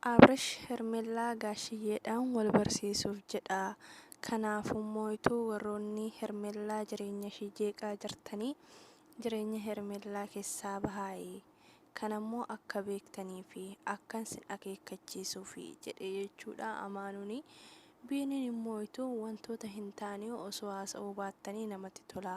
Abrash Hermellaa Gaashiyyeedhaan wal barsiisuuf jedha. Kanaafummoo ituu warroonni Hermellaa jireenyashii jeeqaa jirtanii jireenya Hermellaa kessaa bahaayi. Kanammoo akka beektaniifi akkan sin akeekkachiisuufi jedhe jechuudha Amaanuuni. Biiniin immoo ituu wantoota hin taane osoo haasa'uu baattanii namatti tola.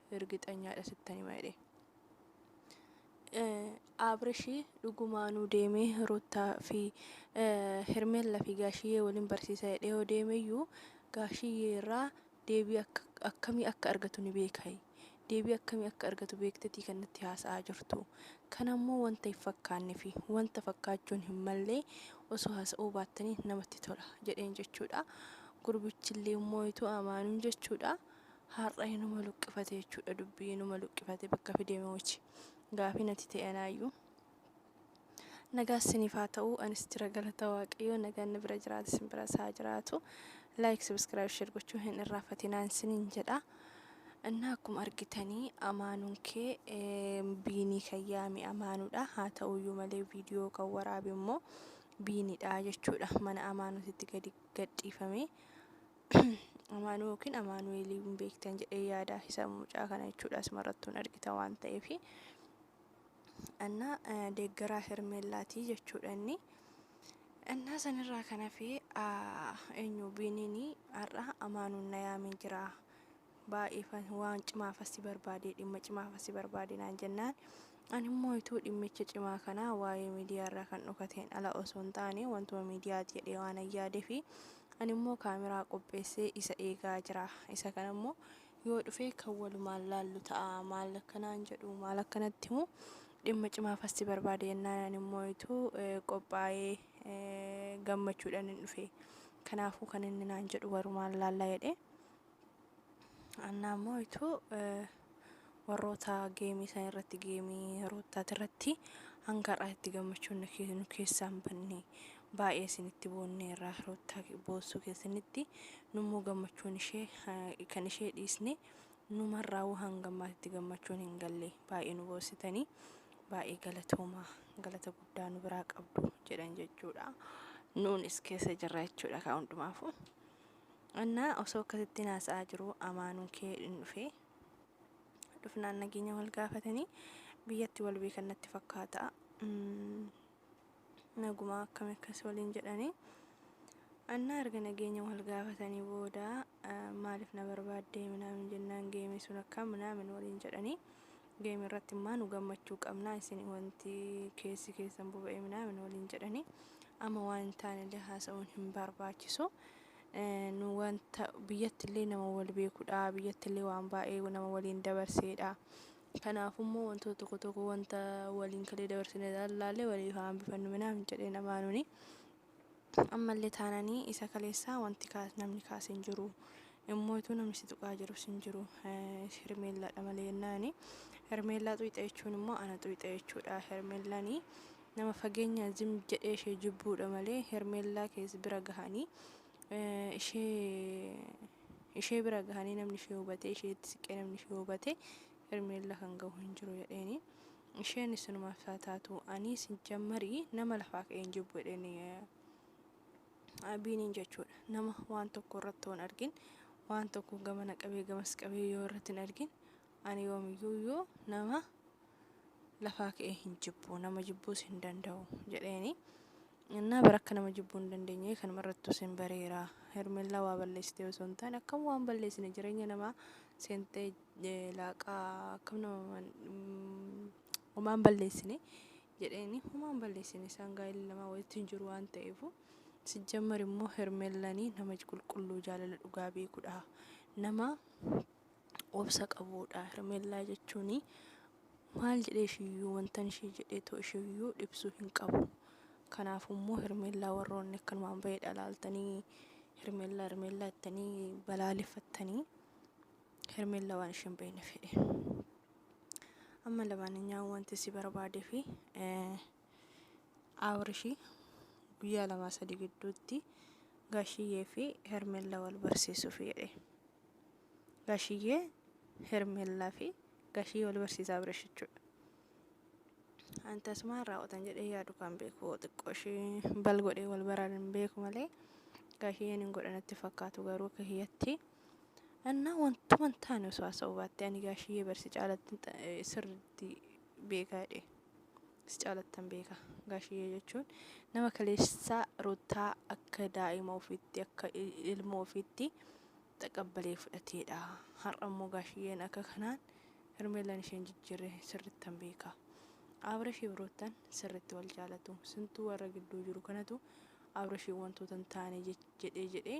irgixanyaadha sittan hima jedhe abrishi dhugumaanuu deemee ruttaa fi hermella fi gaashiyyee waliin barsiisa jedhee yoo deemeyyuu gaashiyyee irraa deebii akka akkamii akka argatu ni beekai deebii akkamii akka argatu beektetii kan natti haasa'aa jirtu kan ammoo wanta hin fakkaanne fi wanta fakkaachuun hin mallee osoo haasa'uu baattanii namatti tola jedheen jechuudha gurbichillee immoo ituu amaanuun jechuudha Har'a inuma luqqifate jechuudha dubbii inuma luqqifate bakka fide moochi gaafii nati ta'e anaayyuu. Nagaa isiniif haa ta'u anis jira galata waaqayyoo nagaan na bira jiraata isin bira isaa jiraatu. Like subscribe share gochuu hin irraafatinaan isiniin jedha. Innaa akkuma argitanii amaanuun kee eh, biinii kan yaame amaanuudha haa ta'uyyuu malee viidiyoo kan waraabe immoo biinidha jechuudha mana amaanutitti gadi gadhiifamee Amaanuu yookiin Amaanu'eelii hin beektan jedhee yaada isa mucaa kana jechuudha asumarrattuun argita waan ta'eef annaa deeggaraa hermeellaatii jechuudha inni annaa sanirraa kan hafee eenyu biiniinii har'a amaanuun na yaamee jira baay'eefan waan cimaafas si barbaade dhimma cimaafas si barbaade naan jennaan ani immoo ituu dhimmicha cimaa kana waa'ee miidiyaa irraa kan dhokateen ala osoo hin taane wantuma miidiyaati jedhee waan an yaadeefi ani immoo kaameraa qopheessee isa eegaa jira isa kana immoo yoo dhufee kan walumaan laallu ta'a maal akkanaan jedhu maal akkanatti himu dhimma cimaafas si barbaade jennaan ani immoo ituu eh, qophaa'ee eh, gammachuudhaan hin dhufe kanaafuu kan inni naan jedhu walumaan laallaa jedhee Annaa immoo ituu warroota geemii san irratti geemii roottaati irratti hanga har'aa itti gammachuun nu kee- nu keessaa hin banne baay'ee isinitti boonnee irraa roottaa boossuu keessanitti nummoo gammachuun ishee eh, kan ishee dhiisne numarraa woo hanga ammaatti gammachuun hin galle baay'ee nu boossitanii baay'ee galatoomaa galata guddaa nu biraa qabdu jedhan jechuudha nuunis keessa jirra jechuudha kaa hundumaafuu. Annaa osoo akkasittiin haasa'aa jiru amaanuun kee hin dhufe. Dhufnaan nageenya wal gaafatanii biyyatti wal beekan natti fakkaata. Mm, Nagumaa akkami akkas waliin jedhanii. Annaa erga nageenya wal gaafatanii booda eh, maaliif na barbaaddee minaamin jennaan geemii sun akka minaamin waliin jedhanii. game irratti maa nu gammachuu qabnaa isin wanti keessi keessan boba'e minaamin waliin jedhanii amma waan hin taane illee haasa'uun hin barbaachisu Eh, nu wanta biyyatti illee nama wal beekudha biyyatti illee waan baay'ee nama waliin dabarseedha kanaaf immoo wantoota tokko tokko wanta waliin kalee dabarsine laallee waliif haa hambifannu minaamin jedheen amaanuni Ammalle taanani isa kaleessaa wanti kaas namni kaase hin jiru. Immootu namni si tuqaa jirus hin jiru. Hermeellaadha malee jennaani. Hermeellaa xuyxa jechuun immoo ana xuyxa jechuudha. Hermeellani nama fageenya zim jedhee ishee jibbuudha malee hermeellaa kees bira gahanii ishee ishee bira gahanii namni ishee hubatee isheetti siqee namni ishee hubatee hermeellaa kan gahu hin jiru jedheeni. Isheen isinumaaf haa taatu anii sijjammari nama lafaa ka'een jibbu jedheen abiiniin jechuudha nama waan tokko irratti waan argin waan tokko gamana qabee gamas qabee yoo irratti hin argin ani yoomiyyuu iyyuu nama lafaa ka'ee hin jibbu nama jibbuus hin danda'u jedheeni. Innaa bara akka nama jibbuu hin dandeenye kanuma irrattu sin bareera. Hermellaa waa balleessitee osoo hin taane akkam waan balleessine jireenya namaa seentee laaqaa akkam nama homaa hin balleessine jedheeni homaa hin balleessine isaan gaa'illi lamaa walitti hin jiru waan ta'eefu sijjammar immoo hermeellanii nama qulqulluu jaalala dhugaa beekudha nama obsa qabuudha hermeellaa jechuun maal jedhee ishiyyuu wantan ishii jedhee too ishiyyuu dhibsuu hin qabu kanaaf immoo hermeellaa warroonni akkanumaan bahee dhalaaltanii hermeellaa hermeellaa ittanii balaaleffattanii Hermella waan isheen beekne fedhe. Amma lamaaninyaan wanti si barbaade fi Abrishi guyyaa lamaa sadii gidduutti Gaashiyyee fi Hermella wal barsiisuuf jedhe. Gaashiyyee Hermellaa fi Gaashiyyee wal barsiisa Abrish jechuudha. Ani tasumaan raawwatan jedhee yaadu kan beeku xiqqoo ishee bal godhee wal baraan hin beeku malee Gaashiyyeen hin godhanatti fakkaatu garuu kiyyatti. Annaa wantuman taane osoo haasa'uu baatte ani gaashiyyee bar si caalatti ta- eh, sirriitti beekaa jedhe. Si caalattan beeka. Gaashiyyee jechuun nama kaleessaa ruttaa akka daa'ima ofiitti akka il- ilmoo ofiitti xaqabbalee fudhateedha. Har'a immoo gaashiyyeen akka kanaan hermeellaan isheen jijjiirre sirrittan beeka. Abrashiif ruttan sirritti wal jaalatu. Sintuu warra gidduu jiru kanatu abrashiif wantoota hin taane jech- jedhee jedhee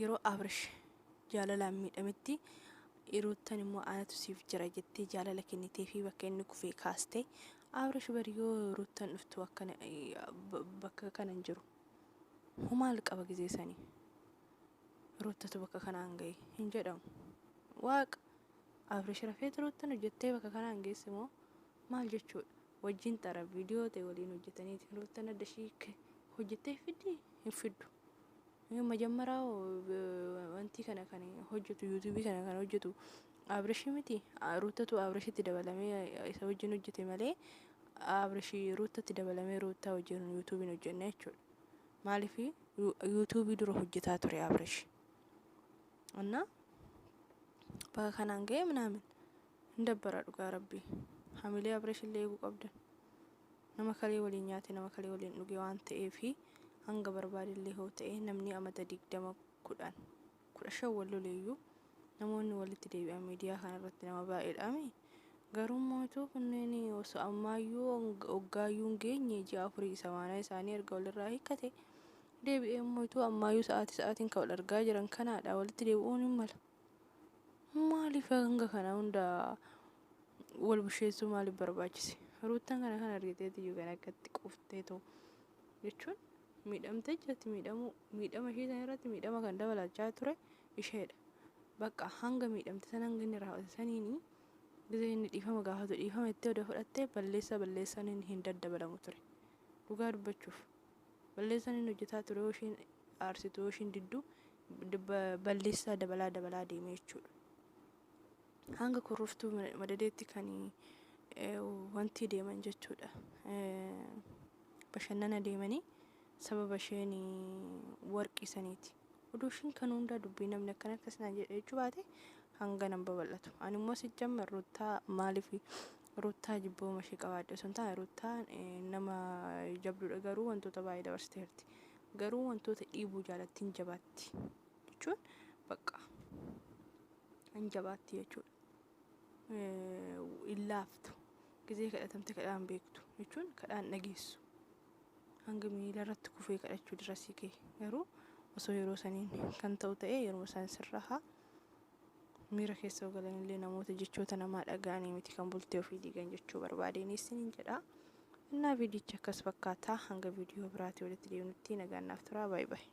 yeroo abrish jaalalaan miidhametti iruuttan immoo anatu siif jira jettee jaalala kennitee fi bakka inni kufee kaaste abrish bari yoo ruuttan dhuftu akkana bakka kanan jiru humaal qaba gizee sanii ruuttatu bakka kanaan gahe hin jedhamu waaqa abrish rafeet ruuttan hojjettee bakka kanaan geesse moo maal jechuudha wajjin xara viidiyoo ta'e waliin hojjetaniiti ruuttan adda shiikke hojjettee fiddi hin fiddu majammaraa wantii kana kan hojjetu yuutuubii kana kan hojjetu abrishii miti ruuttatu abrishitti dabalamee isa wajjin hojjete malee abrishii ruuttatti dabalamee ruuttaa wajjin yuutuubiin hojjenne jechuudha maaliif yuutuubii dura hojjetaa ture abrish እና bakka kanaan ga'e minaamin Hin dabbara dhugaa rabbii. Hamilee Abresh illee eeguu qabdan. Nama kalee waliin nyaate nama kalee waliin dhuge waan ta'eef hanga barbaade illee hoo ta'e namni amata digdama kudhan kudha shan wal loleeyyuu namoonni walitti deebi'an miidiyaa kana irratti nama baay'eedhaami. Garuu mootuu kunneen osoo ammaayyuu oggaayyuu hin geenye ji'a afurii isa maanaa isaanii erga walirraa hiikkate deebi'ee mootuu ammaayyuu sa'aatii sa'aatiin kan wal argaa jiran kanaadha walitti deebi'uun hin mala. Maaliif hanga kana hunda wal busheessuu maaliif barbaachise? Ruuttan kana kan argiteeti iyyuu kan akkatti quuftee ta'u jechuun miidhamtee jirti miidhamuu miidhama ishee sana irratti miidhama kan dabalachaa ture isheedha. Bakka hanga miidhamte sana hanga inni raawwate saniini gizee inni dhiifama gaafatu dhiifama itti oda fudhattee balleessaa balleessaan hin daddabalamu ture. Dhugaa dubbachuuf. Balleessaan inni hojjetaa ture yoo isheen aarsitu yoo isheen diddu balleessaa dabalaa dabalaa deemee jechuudha. Hanga kurruftuu madadeetti kan wanti deeman jechuudha. Bashannana deemanii sababa isheen warqii saniiti. Oduu isheen kan hundaa dubbii namni akkana akkas naan jedhe jechuu baate hanga nan babal'atu. Ani immoo si jamma ruttaa maaliif Ruttaa jibbooma ishee qabaadhe osoo hin taane Ruttaa nama jabduudha garuu wantoota baay'ee dabarsiteerti. Garuu wantoota dhiibuu jaalatti hin jabaatti jechuun bakka hin jabaatti jechuudha. Hin laaftu gizee kadhatamte kadhaan beektu jechuun kadhaan dhageessu. Hanga miila irratti kufee kadhachuu dirasii kee garuu osoo yeroo saniin kan ta'u ta'e yeroo isaan sirraa haa Miira keessa yoo galan illee namoota jechoota namaa dhaga'anii miti kan bultee ofii diigan jechuu barbaadeen isiniin jedha. Innaa viidiyichi akkas fakkaata. Hanga viidiyoo biraatii walitti deebinutti nagaan naaf turaa. Baay'ee baay'ee.